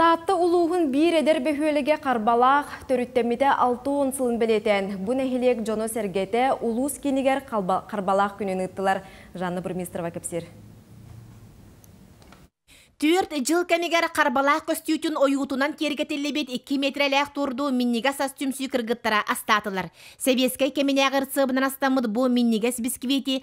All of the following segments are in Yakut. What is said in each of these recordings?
Таатта улууһун биир эдэр бөһүөлэгэ харбалаах төрүттэммитэ алта уон сылын бэлиэтээн, бу нэһилиэк дьоно-сэргэтэ улуус киинигэр харбалаах күнүн ыыттылар. Жанна Бурмистрова кэпсиир. Түөрт дьыл кэмигэр харбалаах көстүүтүн ойуутунан киэргэтиллибит икки миэтэрэлээх турду минньигэс ас түмсүү кыргыттара астаатылар. Сэбиэскэй кэминээҕи ырсыабынан астаммыт бу минньигэс бисквити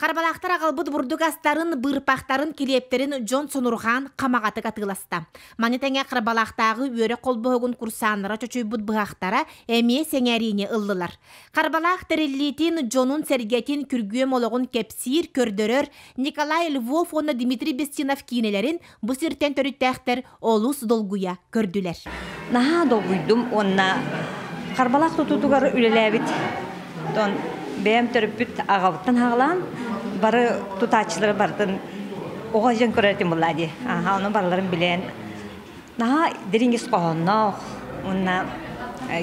Харбалаахтар аҕалбыт бурдугастарын, быырпахтарын, килиэптэрин дьон сонурҕаан хамаҕатык атыыласта. Маны тэҥэ Харбалаахтааҕы үөрэх холбоһугун курсаннара чочуйбут быһахтара эмиэ сэҥээриини ыллылар. Харбалаах тэриллиитин дьонун-сэргэтин күргүөм олоҕун кэпсиир, көрдөрөр Николай Львов уонна Дмитрий Бестинов киинэлэрин бу сиртэн төрүттээхтэр олус долгуйа көрдүлэр. Наһаа долгуйдум уонна харбалаах тутуутугар үлэлээбит бэйэм төрөппүт аҕабыттан хаалаан бары тутааччылары барытын оҕо дьон көрөөтүм буолла дии ону барыларын билээн наһаа дириҥ ис хоһоонноох уонна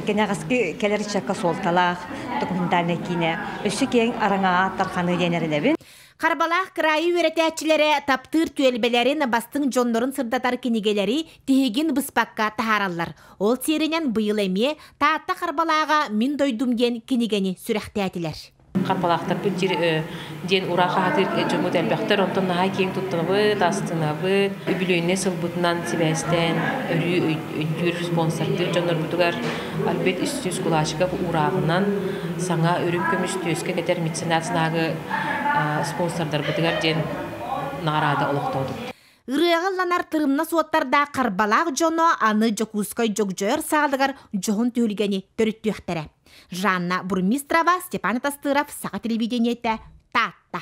кэнэҕэски кэлэр ыччакка суолталаах документальнай киинэ өссө киэҥ араҥаҕа тарҕаныы диэн эрэнэбин Харбалаах кыраайы үөрэтээччилэрэ таптыыр түөлбэлэрин бастыҥ дьоннорун сырдатар кинигэлэри тиһигин быспакка таһаараллар. Ол сиэринэн быйыл эмиэ Таатта Харбалааҕа Мин дойдум диэн кинигэни сүрэхтээтилэр. Харбалаахтарбыт диир диэн ураа хаһатыыр дьоммут элбэхтэр онтон наһаа киэҥ туттанабыт астынабыт үбүлүөйнэй сылбытынан сибээстээн өрүү өйдүүр спонсордыыр дьоннорбутугар альберт үстүүс кулачиков уурааҕынан саҥа үрүҥ көмүс түөскэ кэтэр меценат знагы спонсордарбытыгар диэн наҕараада олохтоотубут. Ырыаҕа ылланар тырымна суоттардаах харбалаах дьоно аны Дьокуускай Дьогдьойор саалыгар дьоһун түһүлгэни төрүттүөхтэрэ. Жанна Бурмистрова, Степан Тастыров, Саха телевидениете, Таатта.